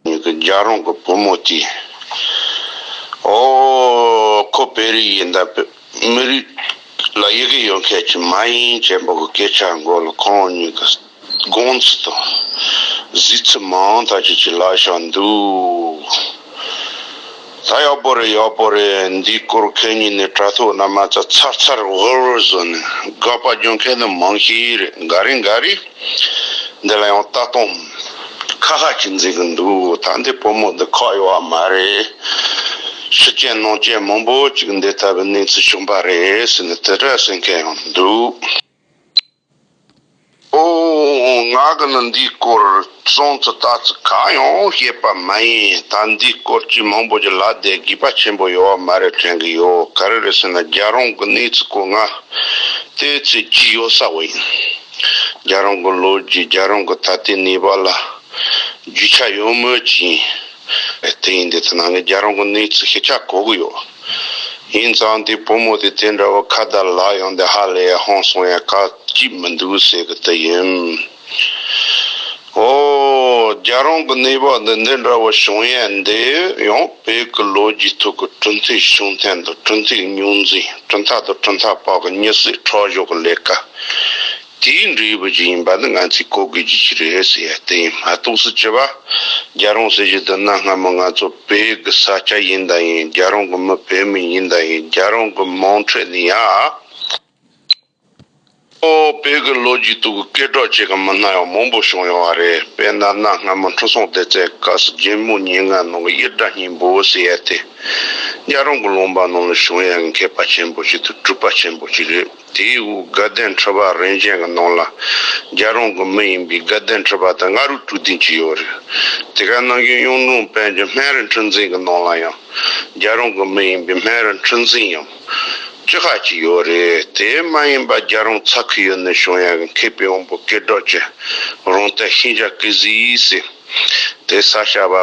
ངེད་ཀྱི་རྒྱ་རོང་གི་བུ་མོ་དེས། ཨོ། ཁོ་བེ་རི་ཡིན་ད། མི་རིགས་ལ་ཡི་གེ་ཡོད་མཁན་ཞིག་མ་ཡིན་ཅེས་འབོད་ཀྱི་སྐད་ཆ་འགོ་ལ་ཁོང་གཉིས་ཀྱི་དགོངས་ཚུལ་དང་གཟིགས་ཚུལ་མང་དག་ཅིག་ཅིག་ལགས་ཤག་འདུག། ད་ཡག་པོ་རེད་ཡག་པོ་རེད་འདིའི་སྐོར་མཁན་གཉིས་ནས་དྲ་ཐོག་ན་མ་རྩ་ཚར་ཚར་ཝུར་ཝུར་བཟོ་ནས་དགག་པ་རྒྱོན་མཁན་ནི་མང་ཞིག་རེད་འགའ་རེ་འགའ་རེ་འདི་ལ་ཡང་ལྟ་སྟངས་ཁ་ཁ་གྱིས་འཛིན་གི་འདུག་ད་འདི་སྤོ་མོ་འདི་ཁག་ཡོད་བ་མ་རེད་ཕྱི་རྐྱེན་ནང་རྐྱེན་མང་པོ་ཅིག་འདི་ལྟ་བུའི་གནས་ཚུལ་བྱུང་པ་རེད་ཟེར་ནས་དེ་འདྲ་ཟེར་མཁན་ཡང་འདུག། ཨོ། ང་གི་ནི་འདིའི་སྐོར་གསུངས་ཚུལ་ལྟ་ཚུལ་གང་ཡང་ཤེས་པ་མ་ཡིན་ད་འདིའི་སྐོར་ཅི་མང་པོ་ཞིག་ལབ་བསྡད་དགོས་པ་ཆེན་པོ་ཡོད་བ་མ་རེད་དྲན་གི་ཡོད་ག་རེ་རེད་ཟེར་ན་རྒྱ་རོང་གི་གནས་ཚུལ་སྐོར་ང་ལྟོས་ཚོད་ཀྱིས་ཡོད་ས་བ་ཡིན། རྒྱ་རོང་གི་ལོ་རྒྱུས་རྒྱ་རོང་གི་ད་ལྟའི་གནས་བབ་ལ་རྒྱུས་ཆ་ཡོད་མོད་ཀྱིས། དེ་ཡིན་དེ་ཐ་ན་ངས་རྒྱ་རོང་གི་གནས་ཚུལ་ཤེས་ཆ་གོ་གི་ཡོད། ཡིན་ཙང་དེའི་བུ་མོ་དེ་དེ་འདྲ་བོ་ཁ་བརྡ་ལག་ཡོང་དེ་ཧ་ལས་ཡ་ཧོང་སོང་ཡ་ཁག་ཅིག་མི་འདུག་ཟེར་གི་དི་ཡིན། ཨོ། རྒྱ་རོང་གི་གནས་བབ་འདི་འདི་འདྲ་བོ་བྱུང་ཡ་འདི་ཡང་བོད་ཀྱི་ལོ་རྒྱུས་ཐོག་གི་གྲུ་འཐིག་བྱུང་མཐའི་འདུག་གྲུ་འཐིག་རྙོག་འཛིང་གྲུ་མཐའ་དང་གྲུ་མཐའ་བར་གྱི་མྱི་སྲིད་ཁྲག་གཞོག་གི་ལས་ཀ། དེའི་འབྲེལ་ཡོད་པ་ཅིག་ཡིན་པ་ནི་ང་ཚོས་གོ་དགོས་རྒྱུ་ཅིག་རེད་ཟེར་ཡ་དེ་ཡིན་མ་གཏོགས་སུ་ཅི་བ། རྒྱ་རོང་ཟེར་གྱི་འདི་ན་སྔ་མོ་ང་ཚོ་བོད་གི་ས་སྐྱ་ཡིན་དང་ཡིན་རྒྱ་རོང་གི་མི་བོད་མི་ཡིན་དང་ཡིན་རྒྱ་རོང་གི་མང་ཁྲོད་ནས་ཡང་ཨོ་བོད་གི་ལོ་རྒྱུས་སྟུག་གི་སྐད་སྒྲོག་བྱེད་མཁན་མི་སྣ་ཡང་མང་པོ་བྱུང་ཡོང་བ་རེད་དཔེར་ན་གནའ་སྔ་མོ་འཕྲུལ་སྲོང་ལྡེ་རྩེ་སྐབས་སུ་རྒྱལ་མོ་སྙན་ངག་ནང་གི་དབྱར་སྒྲ་སྙིང་པོ་ཟེར་ཡ་དེ་རྒྱ་རོང་གི་ལུང་པ་ནང་ལ་བྱུང་ཡ་གི་མཁས་པ་ཆེན་པོ་ཞིག་དང་སྤྲུལ་པ་ཆེན་པོ་ཅིག་རེད། དེའི་དབུས་དགའ་ལྡན་ཁྲི་པ་རིན་ཆེན་གྱི་ནང་ལ་རྒྱལ་རོང་གི་མི་ཡིན་པའི་དགའ་ལྡན་ཁྲི་པ་དང་ལྔ་རུ་དཀྲུག་འདུན་གྱི་ཡོད་རེད། དེ་ག་ནང་རྒྱུན་གཡུང་དྲུང་དཔལ་གྱི་སྨན་རི་འཁྲུལ་འཛིན་གྱི་ནང་ལ་ཡང་རྒྱལ་རོང་གི་མི་ཡིན་པའི་སྨན་རི་འཁྲུལ་འཛིན་ཡང་བཅུ་ཁ་ཅིག་ཡོད་རེད། དེ་མ་ཡིན་པ་རྒྱལ་རོང་ཚ་ཁུལ་ཡུལ་སྣེ་གཞུང་ཡང་གི་མཁས་པའི་དབང་པོ་སྐལ་སྒྲོག་ཅེས་རོང་བསྟན་ཤིང་བྱ་སྐལ་གཟིགས་སི། དེ་ས་ཞྭ་བ་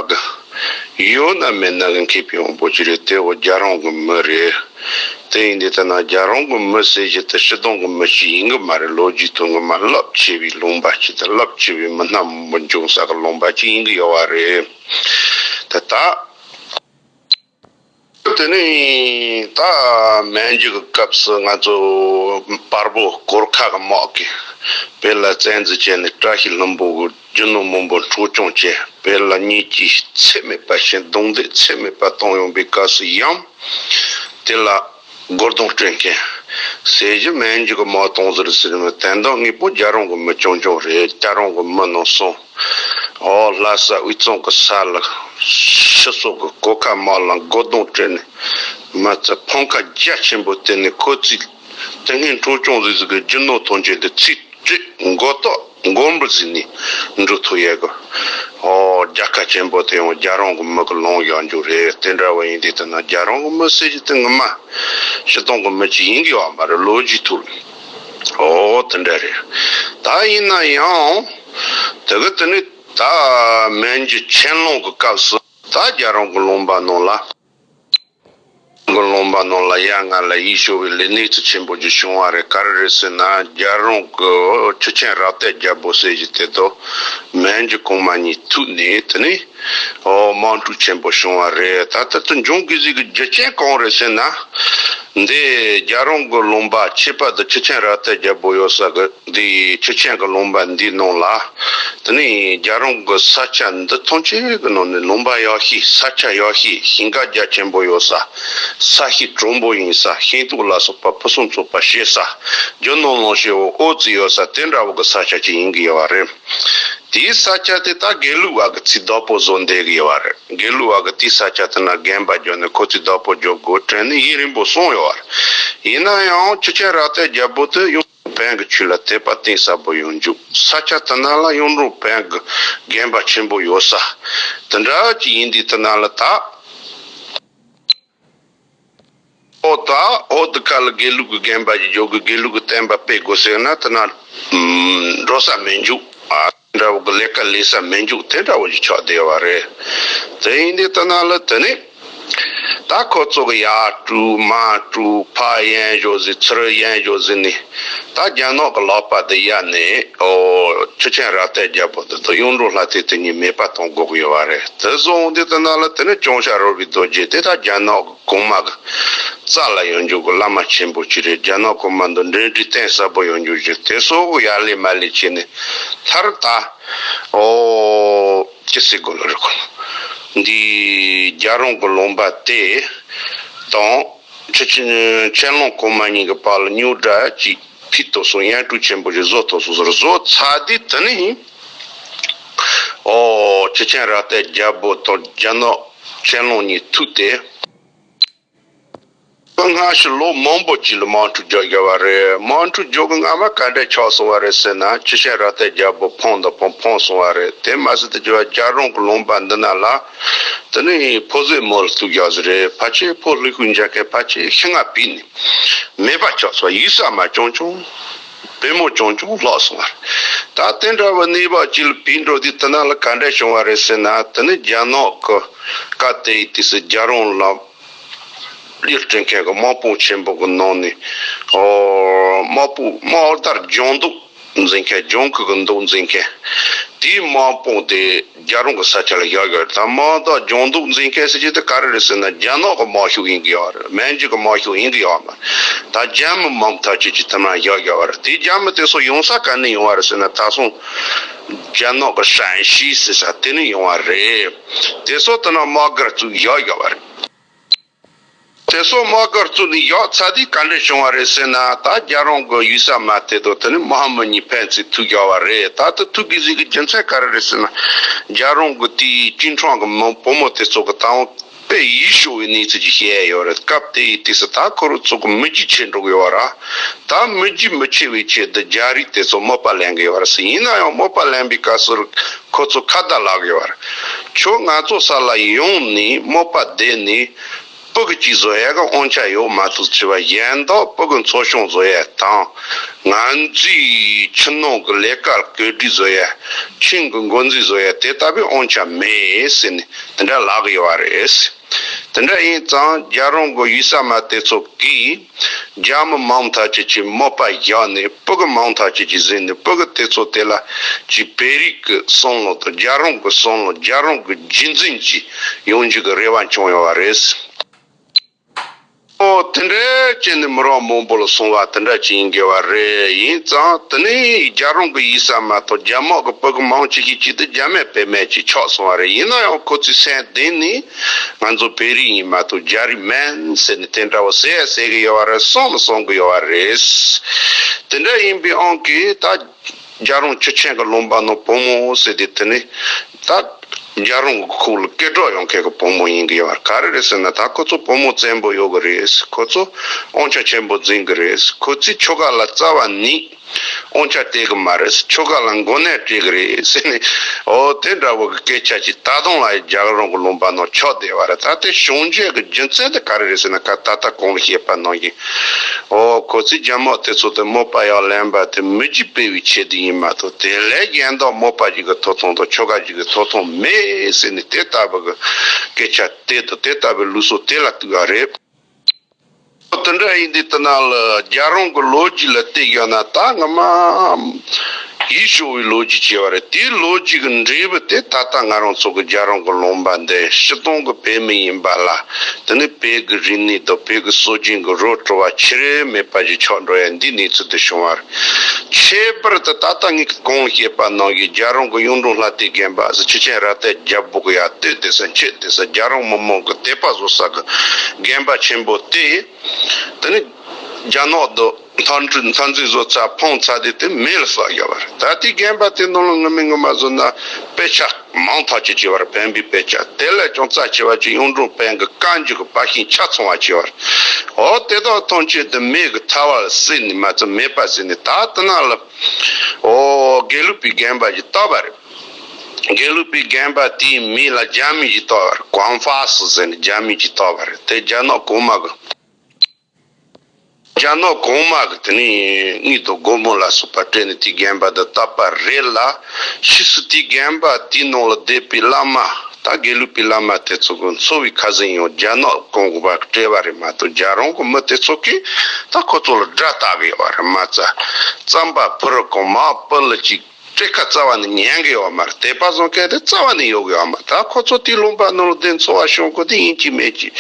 གི་ཡོ་ན་མེ་ན་གི་མཁས་པའི་དབང་པོ་ཅི་རེད་དེ་འོ་རྒྱ་རང་གི་མི་རེད་དེ་ཡིན་དེ་ལྟ་ན་རྒྱ་རང་གི་མི་ཟེར་གྱི་དེ་ཕྱི་དང་གི་མི་ཞིག་ཡིན་གི་མ་རེད་ལོ་རྒྱུས་དང་གི་མ་རླབས་ཆེ་བའི་ལུང་པ་ཞིག་དང་རླབས་ཆེ་བའི་མི་སྣ་མང་པོ་འབྱུང་ས་གི་ལུང་པ་ཅིག་ཡིན་གི་ཡོ་བ་རེད་དེ་ལྟ། དེ་ནས་ད་མན་རྒྱུད་ཀྱི་སྐབས་སུ་ང་ཚོ་དཔར་པོ་གོར་ཁ་གི་དམག་གིས་བེ་ལ་བཙན་འཛུལ་བྱས་ནས་བཀྲ་ཤིས་ལྷུན་པོ་དགུ་རྒྱུ་ནོར་མང་པོ་འཕྲོག་བཅོམ་བྱས་བེ་ལ་གཉིས་ཀྱིས་ཚད་མེད་པ་བཞིན་རྡུང་རྡེག་ཚད་མེད་པ་གཏོང་ཡོང་པའི་སྐབས་སུ་ཡང་དེ་ལ། སྒོར་དོང་སྤྲོད་མཁན། ཟས་རྒྱུ་སྨན་རྒྱུ་གི་མ་དོང་ཟེར་ཟེར་མི་དེ་འདྲ་དངོས་པོ་རྒྱ་རོང་གི་མི་ཆུང་ཆུང་རེད་སྐྱ་རོང་གི་མི་ནང་སོང་འོ་ལྷ་ས་དབུས་གཙང་གི་ས་ལ་ཕྱི་སོག་གི་སྐོར་ཁ་མ་ལ་སྒོར་དོང་སྤྲོད་ནས་མི་ཚེ་ཕམ་ཁ་རྒྱ་ཆེན་པོ་བསྟེན་ནས་ཁོ་ཚོས་ཏིང་ངེ་འཕྲོ་སྐྱོང་ཟིག་ཟིག་གི་རྒྱུ་ནོར་ཐོན་སྐྱེད་དེ་ཚིག་བརྗོད་མགོ་བཏགས། མགོན་པོ་གཟིགས་ནས་འབྲུག་ཐུག་ཡས་ཀྱི། ཧོ། རྒྱལ་ཁ་ཆེན་པོ་དེ་ཡང་རྒྱལ་རོང་གི་མི་གི་ལུང་གཞག་མཇུག་རེད་དེ་འདྲ་བ་ཡིན་དུས་ཐ་ན་རྒྱལ་རོང་གི་མི་སེར་གྱི་སྟེང་གི་མ། ཕྱི་སྟོང་གི་མི་གཅིག་ཡིན་དགོས་བ་མ་རེད་ལོ་རྒྱུས་ཐུག་ཨོ་དེ་འདྲ་རེད། ད་ཡིན་ན་ཡང། དེ་གི་དེ་ནི་ད་མན་གྱི་ཆན་ལུང་གི་སྐབས་སུ་ད་རྒྱལ་རོང་གི་ལུང་པ་ནང་ལ། མགོ་རློན་པ་རྣམས་ལ་ཡ་ང་ལ་ཡིད་སྐྱོ་བའི་ལས་གནས་ཚུལ་ཆེན་པོ་ཞིག་བྱུང་བ་རེད་ག་རེ་རེད་ཟེར་ན་རྒྱལ་རོང་གི་ཆུ་ཆེན་རག་ཏའི་རྒྱལ་པོ་ཟེར་བཞིན་དེ་དུ་མའི་འཇུ་གོང་མ་གཉིས་ཐུག་ནས་དེ་ནས་དམག་འཁྲུག་ཆེན་པོ་བྱུང་བ་རེད་ད་ལྟ་དུ་འབྱུང་དགོས་ཟིག་གི་རྒྱུ་རྐྱེན་གང་རེད་ཟེར་ན། འདི་རྒྱལ་རོང་མགོ་རློན་པ་ཁྱད་པར་དུ་ཆུ་ཆེན་རག་ཏའི་རྒྱལ་པོ་ཡོད་ས་གི། འདི་ཡི་ཆུ་ཆེན་གྱི་ལུང་པ་འདིའི་ནང་ལ། དེ་ནས་རྒྱ་རོང་གི་ས་ཆ་འདི་མཐོང་ཆེན་གྱི་ནང་ནས་ལུང་པ་ཡག་ཤོས་ས་ཆ་ཡག་ཤོས་ཞིང་ཁ་རྒྱ་ཆེན་པོ་ཡོད་ས། ས་གཤིས་དྲོན་པོ་ཡིན་ས་ཤིང་རྟུག་ལ་སོགས་པ་ཕུན་སུམ་ཚོགས་པ་བྱེད་ས། ཇོ་ནང་ལོང་ཤེ་བོ་ཨོ་རྩི་ཡོད་ས་དེ་འདྲ་བོ་གི་ས་ཆ་ཅིག་ཡིན་གྱི་ཡོད་བ་རེད། དེའི་ས་ཆ་དེ་ད་དགེ་ལུགས་བ་གི་ཚིས་བདག་པོ་བཟོ་འདས་གྱི་ཡོད་བ་རེད་དགེ་ལུགས་བ་གི་དེའི་ས་ཆ་དེ་ན་རྒན་པ་འཇོ་ནས་ཁོ་ཚིས་བདག་པོ་འཇོ་དགོས་དྲན་ནས་ཡིན་རིང་པོ་སོང་ཡོད་བ་རེད། ཡིན་ན་ཡང་ཆུ་ཆེན་རག་ཏའི་རྒྱལ་པོ་དེ་ཡུམ། བན་གྱི་ཆོས་ལ་དད་པ་གཏིང་ཟབ་པོ་ཡོང་འཇུག་ས་སྐྱ་དུ་ན་ལ་གཡུང་དྲུང་བན་གྱི་རྒན་པ་ཆེན་པོ་ཡོད་ས་དེ་འདྲ་ཅིག་ཡིན་དུས་དུ་ན་ལ་ད་ཨོ་ད་ཨོ་དུ་ཀ་ལ་དགེ་ལུགས་ཀྱི་རྒན་པ་ཞིག་འཇོག་གི་དགེ་ལུགས་ཀྱི་བསྟན་པ་སྤེལ་དགོས་ཟེར་ན་དུ་ན་འགྲོ་ས་མེད་འཇུག་ཨ། འདྲ་བོ་གི་ལས་ཀ་ལས་ས་མི་འཇུག་དེ་འདྲ་བོ་ཞིག་ཆགས་བསྡད་པ་རེད། དེ་ཡིན་དུས་ཏི་ན་ལི་དེ་ནས་ད་ཁོ་ཚོ་གི་ཡ་ཀྲུའུ་མ་ཀྲུའུ་ཕ་ཡན་བཞོ་ཟི་ཚི་རི་ཡན་བཞོ་ཟི་ནི་ད་རྒྱ་ནག་གི་ལག་པ་དེ་ཡ་ནས་ཨོ་ཆུ་ཆེན་ར་ཏའི་རྒྱལ་པོ་དེ་དང་གཡུང་དྲུང་ལྷ་སྟེ་དེ་གཉིས་མེད་པ་གཏོང་དགོས་ཀྱི་ཡོད་པ་རེད་དེ་བཟོ་འོང་དུས་ཏི་ན་ལི་དེ་ནས་ཅོང་ཞྭ་རོལ་བའི་རྡོ་རྗེ་དེ་ད་རྒྱ་ནག་གོང་མ། རྩ་ལ་ཡོང་རྒྱུག་གི་བླ་མ་ཆེན་པོ་གཅིག་རེད་རྒྱ་ནག་གོང་མ་འདི་འབྲེལ་འདྲིས་གཏན་གསལ་པོ་ཡོང་རྒྱུག་ཅིག་དེ་སོགས་ཡར་ལས་མར་ལས་བྱས་ནས་མཐར་ད་ཨོ། ཅི་སྲིད་དགོས་ལ་རེ་སྐོང། འདི་རྒྱ་རོང་གི་ལུང་པ་སྟེ། དང། ཁྱེད་ཀྱི་ཁྱད་ལོང་གོང་མ་གཉིས་ཀྱི་བར་ལ་སྨྱུག་སྒྲ་གཅིག་ཕིད་དོ་གསུང་དབྱངས་སྤྲུག་ཆེན་པོ་ཞིག་བཟོ་ཐོག་སོ་སོར་བཟོ་ཚར་དུས་དེ་ནས་ཡིན། ཁྲི་ཆེན་རྭ་སྟེ་རྒྱལ་པོ་དང་རྒྱལ་ནག་ཆེན་ལོང་གཉིས་ཐུག་སྟེ། དཔོན་སྔ་ཕྱི་ལོ་མང་པོ་གཅིག་ལ་དམག་འཁྲུག་རྒྱག་དགོས་པ་རེད་དམག་འཁྲུག་རྒྱག་གི་སྔ་མ་ག་འདྲས་ཆགས་སོང་བ་རེད་ཟེར་ན་ཁྲི་ཆེན་རྭ་སྟེ་རྒྱལ་པོ་ཕོངས་དང་ཕོངས་ཕོངས་སོང་བ་རེད་དེ་མ་ཟད་དུ་རྒྱལ་བ་རྒྱ་རོང་གི་ལུང་པ་འདི་ན་ལ་དེ་ནི་ཕོ་བཟོའི་མོ་ལ་ཐུག་རྒྱག་ཟེར་རེད་ཕ་ཆེ་ཕོ་ལྷུག་ལྷུག་མཇལ་མཁན་ཕ་ཆེ་ཤི་ང་བུད་ནི་མེད་པ་ཆགས་སོང་བ་ཡུལ་ས་མ་བྱང་བྱང། དཔོན་མོ་ཅུང་ཅུང་ལོག་སོང་བ་རེད། ད་དེ་འདྲ་བའི་གནས་བབ་ཅིག་ལ་བོད་འབྲོག་སྡེ་དེ་ནང་ལ་ག་འདྲ་བྱུང་བ་རེད་ཟེར་ན་དེ་ནི་རྒྱ་ནག་གི་བཀའ་བསྟན་ཡི་དུས་སུ་རྒྱ་རོང་ལ་གླིང་སྤྲུལ་མཁན་གྱི་དམག་དཔུང་ཆེན་པོ་གི་ནང་ནས་དམག་དཔུང་དམག་དར་རྒྱང་འདུག་འཛིན་མཁན་རྒྱང་གུག་གི་འདུག་འཛིན་མཁན་དེའི་དམག་དཔུང་དེ། རྒྱ་རོང་གི་ས་ཆ་ལ་བཞག་ཡོད་རེད་དམ་མ་གཏོགས་ལྗོངས་རྡོ་འཛིན་སྐད་ཟེར་གྱི་དེ་ག་རེ་རེད་ཟེར་ན་རྒྱ་ནག་གི་དམག་ཤུགས་ཡིན་གྱི་ཡོད་རེད་མན་ཇུ་གི་དམག་ཤུགས་ཡིན་གྱི་ཡོད་མ་རེད་ད་རྒྱ་མི་མང་པོ་ཐག་གཅོད་ཀྱི་ཐུབ་ན་བཞག་ཡོད་རེད་དེ་རྒྱ་མི་དེ་སོགས་ཡོང་ས་ག་ནས་ཡོང་བ་རེད་ཟེར་ན་ད་སོང་རྒྱ་ནག་གི་ཧྲན་ཞི་ཟེར་ས་དེ་ནས་ཡོང་བ་རེད་དེ་སོགས་དེ་ནང་དམག་སྒར་བཙུགས་བཞག་ཡོད་རེད། དེ་སོགས་དམག་སྒར་བཙུགས་ནས་ཡོག་ཚ་དུས་ག་འདྲ་བྱུང་བ་རེད་ཟེར་ན་ད་རྒྱ་རོང་གི་གཡུལ་ས་མ་བལྟས་དོ་དེ་ནི་མ་ཧཱ་མུ་ནི་ཕན་ཚིག་ཐུགས་རྒྱ་བ་རེད་ད་ལྟ་ཐུགས་ཀྱི་གཟིགས་ཀྱི་རྒྱུ་མཚན་ག་རེ་རེད་ཟེར་ན་རྒྱ་རོང་གི་དུས་གཅིན་འཕྲང་གི་མི་བུ་མོ་དེ་ཚོ་གི་ད་འོང་པའི་ཡུལ་ཤོ་བའི་གནས་ཚུལ་གྱི་བཤད་ཡོད་རེད་སྐབས་དེའི་དུས་སུ་ད་ཁོ་རུ་ཚོ་གི་མི་རྒྱུ་ཆེ་འགྲོ་གི་ཡོད་ར། ད་མི་རྒྱུས་མི་ཆེ་བའི་ཆེད་དུ་རྒྱ་རིགས་དེ་ཚོ་དམོད་པ་ལེན་གི་ཡོད་རེད་ཟེར་ཡིན་ན་ཡང་དམོད་པ་ལེན་པའི་སྐབས་སུ་ཁོ་ཚོ་ཁ་བརྡ་ལག་གི་ཡོད་རེད་ཁྱོད་ང་ཚོ་ས་ལ་ཡོང་ནས་དམོད་པ་བསྡད་ནས་སྤུ་གི་གཅིག་བཟོ་ཡས་གི་དབང་ཆ་ཡོད་མ་ཐུག་ཅི་བ་གཞན་དག་སྤུ་གི་མཚོ་གཞུང་བཟོ་ཡས་དང་ང་ཚོའི་ཕྱི་ནང་གི་ལས་ཀ་གོས་སྒྲིག་བཟོ་ཡས་ཁྱིམ་གི་འགོ་འཛིན་བཟོ་ཡས་དེ་ལྟ་བུའི་དབང་ཆ་མེད་ཟེར་ནས་དེ་འདྲ་ལག་གི་ཡོད་རེད་དེ་འདྲ་ཡིན་ཙང་རྒྱ་རོང་གི་ཡུལ་ས་མ་དེ་ཚོ་གིས། རྒྱ་མི་མང་དག་ཅིག་གིས་དམོད་པ་བཞག་ནས་པུཀུ་མང་དག་ཅིག་གིས་བཟས་ནས་པུཀུ་དེ་ཚོ་དེ་ལ་གྱིས་བལ་རིགས་ཀྱི་སྲང་ལོ་དང་རྒྱ་རོང་གི་སྲང་ལོ་རྒྱ་རོང་གི་རྒྱུད་འཛིན་གྱིས་ཡོང་རྒྱུ་གི་རེ་བ་བྱུང་ཡོང་བ་རེད། དེ་འདྲའི་རྐྱེན་ནི་མི་རང་མང་པོ་ལ་སོང་བ་དེ་འདྲ་ཅིག་ཡིན་དགོས་བ་རེད་ཡིན་ཙང་དེ་ནི་རྒྱ་རོང་གི་ཡིག་གསར་མ་ཐག་རྒྱ་དམག་གི་པུཀུ་མང་ཅིག་གིས་གྱིས་ཏེ་རྒྱ་མའི་བེད་མེད་ཅིག་ཆགས་སོང་བ་རེད་ཡིན་ན་ཡང་ཁོ་ཚོའི་སེམས་གཏིང་ནས། ང་ཚོ་བོད་རིགས་ཡིན་མ་གཏོགས་རྒྱ་རིགས་མིན་ཟེར་ནས་དེ་འདྲ་བོ་ཟེར་ཡ་ཟེར་གི་ཡོད་བ་རེད་གསུངས་མི་གསུངས་གི་ཡོད་བ་རེད། དེ་འདྲ་ཡིན་པའི་ཨང་ཀི་ད་རྒྱ་རོང་ཆུ་ཆེན་གི་ལུང་པ་ནང་བུ་མོ་ཟེར་དུས་དེ་ནི་ད་རྒྱ་རོང་གི་ཁུག་ལ་སྐད་སྒྲོག་ཡོང་མཁན་གི་བུ་མོ་ཡིན་གི་ཡོད་བ་ག་རེ་རེད་ཟེར་ན་ད་ཁོ་ཚོ་བུ་མོ་བཙན་པོ་ཡོད་གི་རེད་ཁོ་ཚོ་དབང་ཆ་ཆེན་པོ་འཛིན་གི་རེད་ཁོ་ཚོའི་ཆོལ་ཁ་ལ་རྩ་བ་ནི། ཨོང་ཆ་སྤྲད་གི་མ་རེད། ཁྱོ་ག་ལ་མགོ་ནད་སྤྲད་གི་རེད་ཟེར་ནས། ཨོ་དེ་འདྲ་བོ་གི་སྐད་ཆ་ཅིག་ད་དུང་ལ་རྒྱག་རུང་གི་ལུང་པ་ནང་ཆགས་བསྡད་པ་རེད། ད་ལྟའི་བྱུང་རྗེས་ཀྱི་རྒྱུ་མཚན་དེ་ག་རེ་རེད་ཟེར་ན་ད་ལྟ་གང་ལ་ཤེས་པ་གནང་གི། ཨོ་ཁོ་ཚོས་རྒྱ་དམག་དེ་ཚོ་དེ་དམག་པ་ཡག་ལེན་པ་དེ་མི་རྒྱུ་སྤེལ་བའི་ཆེད་དུ་ཡིན་མ་གཏོགས་དེ་ལས་གཞན་དག་དམག་པ་ཞིག་གི་ཐོབ་ཐང་དང་ཁྱོ་ག་ཞིག་གི་ཐོབ་ཐང་མེད་ཟེར་ནས་དེ་ལྟ་བུ་གི་སྐད་ཆ་སྤྲད་དང་དེ་ལྟ་བུའི་ལུགས་སྲོལ་དེ་ལ་གཏུགས་པ་རེད། ཨོ་དེ་འདྲ་ཡིན་དུས་ལྟ་ན་ལ་རྒྱ་རང་གི་ལོ་རྒྱུས་ལ་བལྟས་དགོས་ན་ད་སྔ་མ་ཡིད་ཤོར་བའི་ལོ་རྒྱུས་བྱས་པ་རེད་དེའི་ལོ་རྒྱུས་ཀྱི་འབྲས་བུ་དེ་ད་ལྟ་ང་རང་ཚོ་གི་རྒྱ་རང་གི་ལུང་པ་འདི་ཕྱི་སྟོང་གི་བོད་མི་ཡིན་པ་ལ་དེ་ནི་བོད་ཀྱི་རིག་གནས་དང་བོད་ཀྱི་སྲོལ་རྒྱུན་གྱི་རོ་བྲོ་བ་ཆེ་རེ་མེད་པ་ཞིག་ཆགས་འགྲོ་ཡ་འདིའི་གནས་ཚུལ་དེ་བྱུང་བར། ཁྱད་པར་དུ་ད་ལྟ་ངེད་ཀྱི་གོང་བཤད་པ་ནང་གི་རྒྱ་རོང་གི་གཡུང་དྲུང་ལྷ་སྟེ་རྒན་པ་སི་ཆུ་ཆེན་ར་ཏའི་རྒྱ་སྦུག་ཡ་སྟོད་དེ་སོན་ཁྱོད་དེ་སོན་རྒྱ་རོང་མི་མང་གི་དད་པ་བཟོ་ས་གི་རྒན་པ་ཆེན་པོ་སྟེ། དེ་ནི་རྒྱ་ནག་ཏུ་མཐར་འཁྲུལ་མཐར་འཛིན་བཟོ་ཚ་འཕང་ཚ་དེ་དེ་མེད་ལ་བསགས་རྒྱ་བར་ད་ལྟའི་རྒན་པ་དེ་ནང་ལ་ངུ་མི་ངུ་མ་བཟོ་ན་དཔེ་ཆགས། མང་དག་ཅིག་བྱེད་པར་ཕན་པའི་དཔེ་ཆ་དེ་ལས་ཀྱང་རྩ་ཆེ་བ་གཅིག་གཡུང་དྲུང་དཔལ་གྱི་བཀའ་འགྱུར་གྱི་བར་ཤིང་ཆ་ཚང་བར་བྱས་པར། འོ་དེ་དག་ཐམས་ཅད་དུ་མེད་ཀྱི་ཐལ་བ་ལ་བསྲེས་ནས་མ་ཚད་མེད་པར་བཟོས་ནས་ད་ལྟ་ན་ལ། འོ་དགེ་ལུགས་པའི་རྒན་པ་ཞིག་བཏགས་པ་རེད། དགེ་ལུགས་པའི་རྒན་པ་དེའི་མིང་ལ་རྒྱ་མི་ཞིག་བཏགས་པར་ཀོང་ཧྥ་སི་ཟེར་ནས་རྒྱ་མི་ཞིག་བཏགས་པ་རེད་དེ་རྒྱ་ནག་གོང་མ་གི། རྒྱ་ནག་གོང་མ་གི་དེ་ནས་གཉིད་དོ་སྒོར་མོ་ལ་སོགས་པ་སྤྲད་ནས་དེའི་རྒན་པ་དང་བཏབ་པ་རེད་ལ་ཕྱིས་སུ་དེའི་རྒན་པ་དེའི་ནང་ལ་བསྡད་པའི་བླ་མ་དང་དགེ་ལུགས་པའི་བླ་མ་དེ་ཚོ་གི་འཚོ་བའི་ཁ་ཟིན་ཡང་རྒྱ་ནག་གོང་མ་གི་སྤྲད་པ་རེད་མ་གཏོགས་རྒྱ་རང་གི་མི་དེ་ཚོ་གིས་ད་ཁོ་ཚོ་ལ་དགྲ་བལྟ་གི་ཡོད་པ་རེད་མ་རྩ་རྩམ་པ་ཕུ་རུ་གོང་མ་པི་ལི་གཅིག་སྤྲེལ་ཁ་རྩ་བ་ནས་ཉན་དགོས་བ་མ་རེད་དེ་དཔའ་བཟང་སྐད་དེ་རྩ་བ་ནས་ཡོད་དགོས་བ་མ་རེད་ད་ཁོ་ཚོ་དུས་རླུང་དཔའ་ནོར་ལྡན་འཚོ་བ་ཤོང་དགོས་དེ་ཡིན་གྱི་མེད་ཀྱི།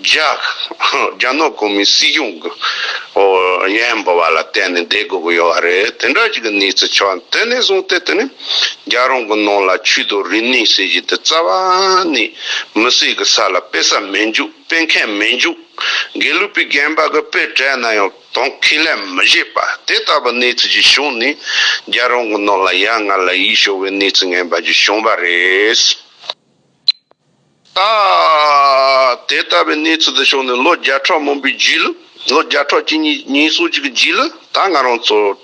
རྒྱ་ནག་གོ་མིན་སྲིད་གཞུང་གི་བརྙན་འབུལ་བ་ལ་བརྟེན་ནས་བསྡད་དགོས་ཀྱི་ཡོད་བ་རེད་དེ་འདྲ་ཞིག་གི་གནས་ཚུལ་ཆགས་འདུག་དེ་ནས་བཟུང་སྟེ་དེ་ནི་རྒྱ་རང་གི་ནང་ལ་ཆུ་དང་རི་ནི་ཟེར་གཞི་དེ་རྩ་བ་ནས་མི་སྲིད་གི་ས་ལ་སྤེལ་ས་མི་འཇུག་སྤེལ་མཁན་མི་འཇུག་དགེ་ལུགས་པའི་རྒན་པ་གི་དཔེ་བྲལ་ན་ཡང། དང་ཁས་ལེན་མི་བྱེད་པ་དེ་ལྟ་བུའི་གནས་ཚུལ་ཞིག་བྱུང་ནས་རྒྱལ་རོང་གི་ནང་ལ་ཡ་ང་ལ་ཡིད་སྐྱོ་བའི་གནས་ཚུལ་ངན་པ་ཞིག་བྱུང་བ་རེད། ད་དེ་ལྟ་བུའི་གནས་ཚུལ་དེ་བྱུང་ནས་ལོ་བརྒྱ་ཕྲག་མང་པོའི་རྗེས་ལ། ལོ་བརྒྱ་ཕྲག་གཅིག་གཉིས་ཉིས་སོ་གཅིག་གི་རྗེས་ལ་ད་ང་རང་ཚོ།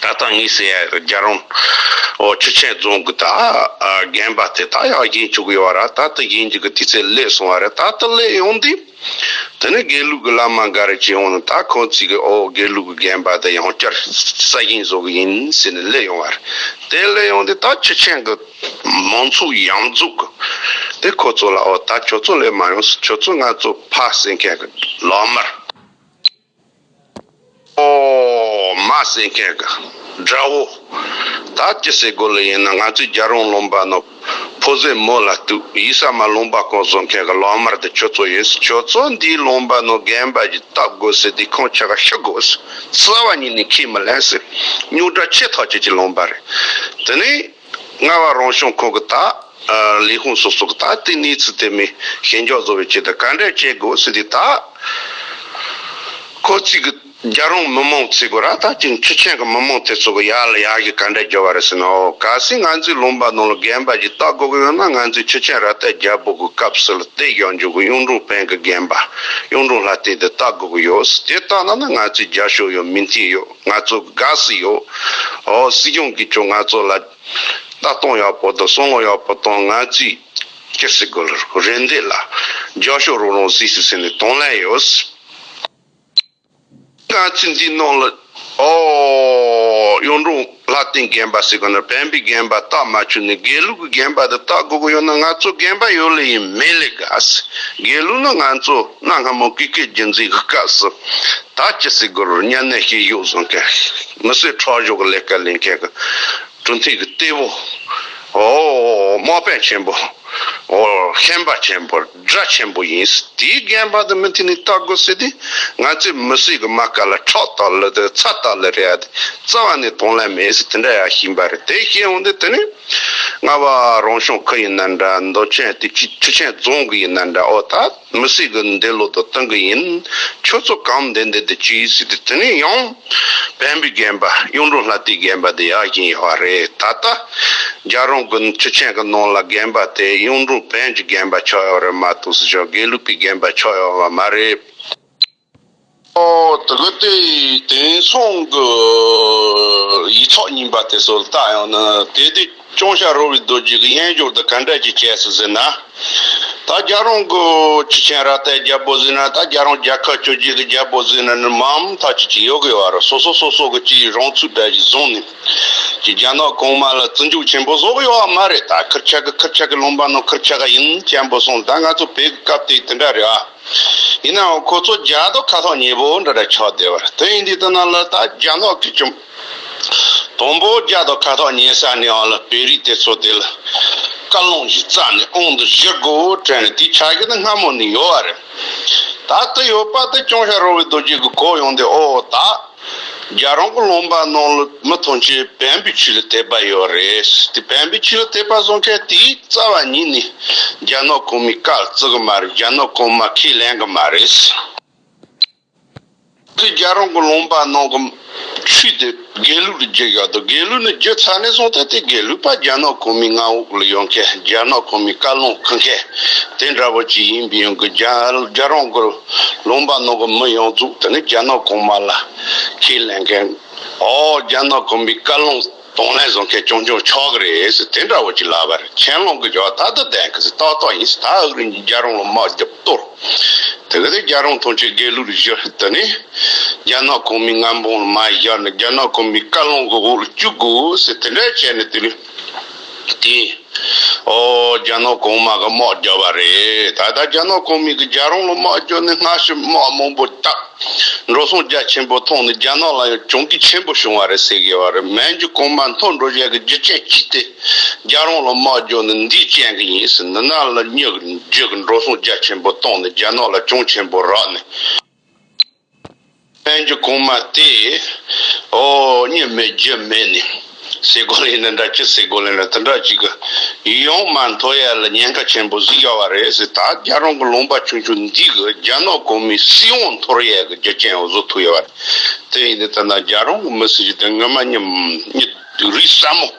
ད་ལྟ་ངའི་སའི་རྒྱ་རོང་བོ་ཆུ་ཆེན་རྫོང་གི་དག་རྒན་པ་དེ་དག་ཡང་ཞེན་བཅུག་ཡོད་ར་ད་ལྟ་ཞེན་བཅུག་གི་དུས་ཚོད་བསླེས་སོང་བ་རེད་ད་ལྟ་བསླེས་ཡོང་དུས་དེ་ནི་དགེ་ལུགས་ཀྱི་བླ་མ་འགའ་རེ་བྱས་ཡོང་ནས་ད་ཁོང་ཚོས་ཀྱི་ཨོ་དགེ་ལུགས་ཀྱི་རྒན་པ་དེ་ཡང་བསྐྱར་ས་ཞིང་བཟོ་གི་ཡིན་ཟེར་ནས་བསླེས་ཡོང་བ་རེད་དེ་བསླེས་ཡོང་དུས་ད་ཆུ་ཆེན་གྱི་མང་ཚོགས་ཡང་རྫོགས་གི་དེ་ཁོ་ཚོ་ལ་ཨོ་ད་ཁྱོད་ཚོ་བསླེས་མ་ཡོང་ཟེར་ཁྱོད་ཚོ་ང་ཚོ་ཕ་བསད་མཁན་གྱི་ལག་དམར། ཨོ། མ་སྲིན་སྐད་ག་འདྲ་བོ། ད་ཅི་ཟེར་དགོས་ལ་ཡིན་ན་ང་ཚོའི་རྒྱ་རོང་ལུང་པ་ནོ། ཕོ་ཟེར་མོ་ལ་གཏུག་ཡིད་ས་མ་ལུང་པ་ཀོང་བཟོ་མཁན་ག་ལོག་དམར་དེ་ཁྱོད་ཚོ་ཡིན་ཟེར་ཁྱོད་ཚོ་འདིའི་ལུང་པ་ནོ་རྒན་པ་གྱིས་བཏབ་དགོས་ཟེར་དེའི་ཁང་ཆ་ག་ཤི་དགོས་ཟེར་རྩ་བ་ཉིད་ནས་ཁས་མི་ལེན་ཟེར་སྙུག་དྲ་ཆེ་ཐག་ཆད་ཀྱི་ལུང་པ་རེད་དེ་ནི། ལྔ་བ་རང་བྱུང་ཁོག་གི་དག། ལས་ཁུངས་སོ་སོ་གི་དག་ཏུ་གནས་ཚུལ་དེ་མིན་ཞེན་འཇོག་བཟོ་བའི་ཆེད་དུ་ག་འདྲའི་བྱེད་དགོས་ཟིན་དེ་དག་ཁོ་གཙིགས་གི་རྒྱ་རོང་མི་མང་ཚིག་གོ་ར་ད་ཅིང་ཆུ་ཆེན་གི་མི་མང་དེ་ཚོ་གི་ཡག་ལ་ཡག་ཞིག་ག་འདྲའི་རྒྱོ་བ་རེད་ཟེར་ནའོ་ག་སྲིད་ང་ཚོའི་ལུང་པ་ནང་ལ་རྒན་པ་ཞིག་ལྟ་དགོ་གི་ཡོད་ན་ང་ཚོའི་ཆུ་ཆེན་ར་ཏའི་རྒྱལ་པོ་གི་སྐབས་སུ་ལ་ཏའི་གཞོགས་འཇུག་གི་གཡུང་དྲུང་བན་གི་རྒན་པ་གཡུང་དྲུང་ལྷ་རྟེན་དེ་ལྟ་དགོ་གི་ཡོད་དེ་ལྟ་ན་ན་ང་ཚོའི་རྒྱ་ཤོག་ཡོད་མིན་དེ་ཡོད། ང་ཚོ་དགའ་བསུ་ཡོད། འོ་སྲིད་སྐྱོང་གིས་ཀྱང་ང་ཚོ་ལ། ལྟ་སྟངས་ཡག་པོ་དང་བསམ་བློ་ཡག་པོ་དང་ང་ཚོས། སྐྱིད་སེ་དགོས་ལ་རོགས་རེ་འདོད་ལ། རྒྱག་ཤོག་རོགས་རང་བཟི་སེ་ཟེར་ནས་དང་ལེན་ཡོད། ང་ཚོས་འདི་གནང་ལ། འོ། གཡུང་དྲུང་ལྷ་རྟེན་རྒན་པ་ཟེར་གོ་ན་བན་བོན་རྒན་པ་རྟགས་མ་ཆུ་ནས་དགེ་ལུགས་ཀྱི་རྒན་པ་དེ་རྟགས་དགོས་ཀྱི་ཡོད་ན་ང་ཚོ་རྒན་པ་ཡོད་ལེ་ཡིན་མེད་ལས་དགའ་སེ་དགེ་ལུགས་ནི་ང་ཚོ་གནའ་སྔ་མོ་ཀི་ཀའི་རྒྱུད་འཛིན་གྱི་སྐབས་སུ། ད་ཅི་སྲིད་སྒོར་གཉའ་གནས་ཤིང་གཡོག་བཟོ་མཁན། མི་སེར་ཁྲག་གཞོག་གི་ལས་ཀ་ལས་མཁན་གྱི་གྲུ་འཐེན་གྱི་གཏེ་བོ། དམག་དཔོན་ཆེན་པོ། ཤན་པ་ཆེན་པོ། དགྲ་ཆེན་པོ་ཡིན་སྲིད། དེའི་རྒན་པ་དང་མི་མཐུན་ནས་བལྟ་དགོས་སྲིད་དེ། ང་ཚོའི་མི་སེར་གྱི་རྨ་ཁ་ལ་ཁྲག་དག་ལི་དང་ཚ་དག་ལི་རེད་ཡ་དེ། རྩ་བ་ནས་དོན་ལ་མེད་སྲིད་དེ་འདྲ་ཡ་ཞིག་འབའ་རེད་དེ་བཤད་འོང་དེ་དེ་ནི། རྔ་བ་རང་ཞུང་ཁུལ་ཡིན་ན་འདྲ་མདོ་ཆེན་དེ་ཆུ་ཆེན་རྫོང་གི་ཡིན་ན་འདྲ་ཨོ་ད། མི་སྲིད་གི་འདི་ལོ་དང་སྟོན་གི་ཡིན། ཁྱོད་ཚོ་གང་འདི་འདི་དེ་ཅི་ཡིན་སྲིད་དེ་དེ་ནས་ཡང། བན་བོན་རྒན་པ་གཡུང་དྲུང་ལྷ་སྟེ་རྒན་པ་དེ་ཡག་བཞིན་ཡོད་བ་རེད་ད་ལྟ། རྒྱ་རོང་གི་ཁྲི་ཆེན་གི་ནང་ལ་རྒན་པ་དེ་གཡུང་དྲུང་བན་གྱི་རྒན་པ་ཆགས་ཡོད་རེད་མ་གཏོགས་སྲིད་སྐྱོང་དགེ་ལུགས་པའི་རྒན་པ་ཆགས་ཡོད་བ་མ་རེད། དྲི་གུ་དེ་དེང་སང་གི་ཡིག་ཚོགས་རྙིང་པ་དེ་ཚོ་ལ་བལྟ་ཡོང་ན་དེ་དུས་ཅོང་ཞྭ་རོ་བའི་རྡོ་རྗེ་གི་དབྱེན་སྦྱོར་དུ་ག་འདྲ་ཅིག་བྱས་སོང་ཟེར་ན། ད་རྒྱ་རོང་གི་ཁྱི་ཆེན་ར་ཏའི་རྒྱལ་པོ་ཟེར་ན་ད་རྒྱ་རོང་རྒྱལ་ཁབ་བཅོ་བརྒྱད་ཀྱི་རྒྱལ་པོ་ཟེར་ན་ནི་མ་འམ་ཐག་ཅིག་ཅིག་ཡོད་དགོས་བ་རེད་སོ་སོ་སོ་སོ་གི་ཅིག་རང་ཚུགས་གྲལ་ཅིག་བཟུང་ནས་ཅིག་རྒྱ་ནག་གོང་མ་ལ་བརྩི་འཇུག་ཆེན་པོ་བཟོ་གི་ཡོད་བ་མ་རེད་ད་ཁིར་ཆག་གི་ཁིར་ཆག་གི་ལུང་པ་ནོར་ཁིར་ཆག་ག་ཡིན་ཅན་པོ་སོང་ད་ང་ཚོ་བོད་ཀྱི་སྐབས་དེ་དེ་འདྲ་རེད་ཨ། ཡིན་ནའང་ཁོ་ཚོ་རྒྱ་རྡོ་ཁ་ཐོག་ཉེ་པོ་འདྲ་འདྲ་ཆགས་བསྡད་པར་དོན་ཡིན་དུས་ལྟ་ན་ལ་དྭགས་རྒྱ་ནག་གི་བཅོམ་དང་པོ་རྒྱ་རྡོ་ཁ་ཐོག་ཉེ་ས་ནས་འང་ལ་བེ་རིས་དེ་ཚོ་དེ་ལ་བཀའ་ལུང་ཞིག་བསྩལ་ནས་ཨང་དུ་བཞེས་དགོས་བོ་དྲན་ནས་དེ་ཆགས་ཀྱི་ན་སྔ་མོ་ནས་ཡོད་བ་རེད། ད་ལྟ་ཡོད་པ་དེ་ཅུང་ཤ་རོ་བའི་རྡོ་རྗེ་གི་གོ་ཡོང་སྟེ་ཨོ་ད། རྒྱ་རོང་གི་ལུང་པ་ནང་ལ་མི་ཐོན་ཆེ་བན་པོའི་ཆུ་ལ་དད་པ་ཡོད་རེད་དེ་བན་པོའི་ཆུ་ལ་དད་པ་བཟོ་མཁན་དེའི་རྩ་བ་ཉིད་ནས་རྒྱ་ནག་གོང་མའི་བཀའ་ལ་བརྩི་གི་མ་རེད་རྒྱ་ནག་གོང་མ་ཁས་ལེན་གི་མ་རེད། དེ་རྒྱ་རོང་གི་ལུང་པ་ནང་གི་ཆུ་དེ་དགེ་ལུགས་ལ་རྒྱུ་ཡོད་དོ་དགེ་ལུགས་ནས་རྒྱུ་ཚར་ནས་བཟུང་སྟེ་དེ་དགེ་ལུགས་པ་རྒྱ་ནག་གོང་མའི་མངའ་འོག་ལ་ཡོད་མཁན་རྒྱ་ནག་གོང་མའི་བཀའ་ལུང་ཁུར་མཁན་དེ་འདྲ་བོ་ཅིག་ཡིན་པའི་ཡོང་གི་རྒྱ་རོང་གི། ལུང་པ་ནང་གི་མི་ཡོངས་རྫོགས་དེ་ནི་རྒྱ་ནག་གོང་མ་ལ་ཁས་ལེན་མཁན་འོ་རྒྱ་ནག་གོམ་པའི་བཀའ་ལུང་དང་ལེན་བཟོ་མཁན་ཅུང་ཅུང་ཆོག་གི་རེད་དེ་འདྲ་བོ་ཅིག་ལབ་པར་ཁས་ལོང་གི་བྱ་བ་ད་དུ་ལྡན་གི་ཏག་ཏག་ཡིན་ད་ཨག་རིན་གྱིས་རྒྱ་རོང་ལ་དམག་རྒྱབ་གཏོར་དེ་ག་དེ་རྒྱ་རོང་ཐོན་ཆེད་དགེ་ལུགས་རུ་བཞུ་དེ་ནི་རྒྱ་ནག་གོང་མའི་མངལ་འབངས་ལ་མ་བཞག་ན་རྒྱ་ནག་གོམ་པའི་བཀའ་ལུང་གི་འོག་ལ་བཅུག་དགོས་དེ་འདྲ་བྱས་ནས་དེ་ལུས། དེ། ཨོ། རྒྱ་ནག་གོང་མ་གི་དམག་རྒྱག་པ་རེད། ད་ལྟ་རྒྱ་ནག་གོང་མས་གི་རྒྱ་རོང་ལ་དམག་རྒྱག་ནས་སྔ་ཕྱི་དམག་མང་པོ་བཏགས། འགྲོ་སོང་རྒྱ་ཆེན་པོ་ཐོངས་ནས་རྒྱ་ནག་ལ་ཡང་གྱོང་གུད་ཆེན་པོ་བྱུང་བ་རེད་ཟེར་གི་བ་རེད་མན་ཇུ་གོང་མ་མཐོ་འགྲོ་བཞག་གི་རྒྱུ་ཅན་གྱིས་ཏེ། རྒྱ་རོང་ལ་དམག་རྒྱག་ནས་འདིས་ཅན་གི་ཡིན་ཟེར་ནས་ནང་ལ་སྙེག་རྗེས་གི་འགྲོ་སོང་རྒྱ་ཆེན་པོ་བཏང་ནས་རྒྱ་ནག་ལ་གྱོང་ཆེན་པོ་རག་ནས། བསྟན་གྱི་གོང་མ་དེས། འོ་ཉི་མའི་རྒྱུ་མེད་ནས། སའི་གོ་ལའི་ཡིན་ན་འདྲ་ཅི་སའི་གོ་ལའི་ལ་དེ་འདྲ་ཅི་གི། ཡོང་མ་མཐོ་ཡ་ལ་ཉེན་ཁ་ཆེན་པོ་གཟིགས་ཡོད་བ་རེད་ཟེར་ད་རྒྱ་རོང་གི་ལུང་པ་ཆུང་ཆུང་འདི་གི་རྒྱ་ནག་གོ་མིའི་སྲིད་དབང་མཐོར་ཡས་གི་རྒྱུ་རྐྱེན་བཟོ་ཐུབ་ཡོད་བ་རེད་དེ་ཡིན་ནའི་ད་ནང་རྒྱ་རོང་གི་མི་སེར་གྱི་དེ་སྔོན་མ་ཉིད་རིགས་ཟབ་མོ།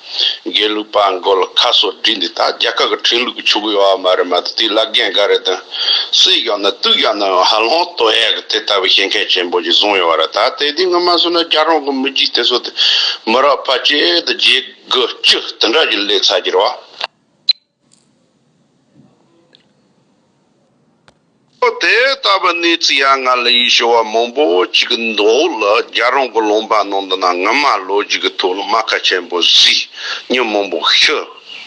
དགེ་ལུགས་པ་མགོ་ལ་ཁ་སོར་བསྒྲིགས་འདི་དག་རྒྱ་གར་གི་ཁྲིམས་ལུགས་ཀྱི་ཆོ་གའི་ཡོ་བ་མ་རེད་མ་གཏོགས་དེའི་བླ་རྒན་འགའ་རེ་དང་སུས་བཞག་ན་དུས་བཞག་ནའང་ཧ་ལོང་ལྟོ་ཡག་གི་དེ་ལྟ་བུའི་བཤད་མཁན་ཆེན་པོ་ཞིག་བཟུང་ཡོང་བ་རེད་ད་ལྟའི་དུས་ངན་མ་བཟོས་ན་རྒྱ་རོང་གི་མི་རྒྱུད་དེ་ཚོ་དེ་མི་རབས་ཕ་སྐྱེས་དང་རྗེས་དགུ་བཅུ་དེ་འདྲ་ཞིག་སླེབས་ཚར་གྱི་རེད་བ། ལོ་དེ་ལྟ་བུའི་གནས་ཚུལ་ཡ་ང་ལ་ཡིད་ཆེས་བ་མང་པོ་ཅིག་འདུག་ལ་རྒྱ་རོང་གི་ལུང་པ་ནང་དུ་ན་ང་མ་ལོ་རྒྱུས་ཀྱི་ཐུགས་ལ་རྨ་ཁ་ཆེན་པོ་བཟི་སྙིང་མང་པོ་ཤི་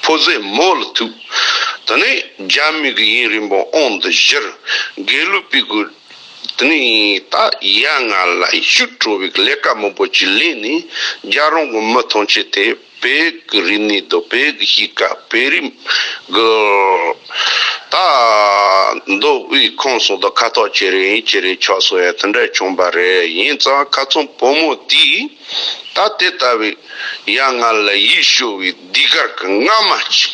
ཕོ་ཟད་མོ་ལ་ཐུག་དེ་ནས་རྒྱ་མི་གི་ཡིན་རིང་པོ་ཨང་འདི་བཞིར་དགེ་ལུགས་པའི་གུ་དེ་ནས་ད་ཡ་ང་ལ་ཤུགས་དྲོ་བའི་ལས་ཀ་མང་པོ་ཅིག་ལས་ནས་རྒྱ་རོང་གི་མི་ཐང་ཆེ་དེ། བེ་གི་རི་ནི་རྡོ་བེ་གི་གཤིས་ཀ་བེ་རི་གི་རྟ་རྡོ་དབུས་ཁོངས་སུ་རྡོ་ཁ་ཐོག་ཆེ་རེ་ཡིན་ཆེ་རེ་ཆོག་སོགས་ཡང་དེ་འདྲ་བྱུང་པ་རེད་ཡིན་ཙང་ཁ་ཚོམ་བུ་མོ་དེས་ད་དེ་ལྟ་བུའི་ཡ་ང་ལ་ཡིད་ཤོར་བའི་སྡིག་གར་གི་རྔ་མ་ཅིག་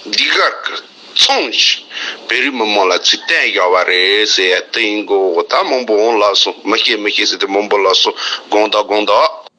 སྡིག་གར་གི་ཚོང་ཞིག་བེ་རི་མི་མང་ལ་ཚུལ་བསྟན་བཞག་པ་རེད་ཟེར་ཡ་དེ་ཡིན་དགོས་འོ་ད་མང་པོ་འོང་ལགས་སོ་མི་ཤེས་མི་ཤེས་ཟེར་ཏེ་མང་པོ་ལགས་སོ་དགོངས་དག་དགོངས་དག།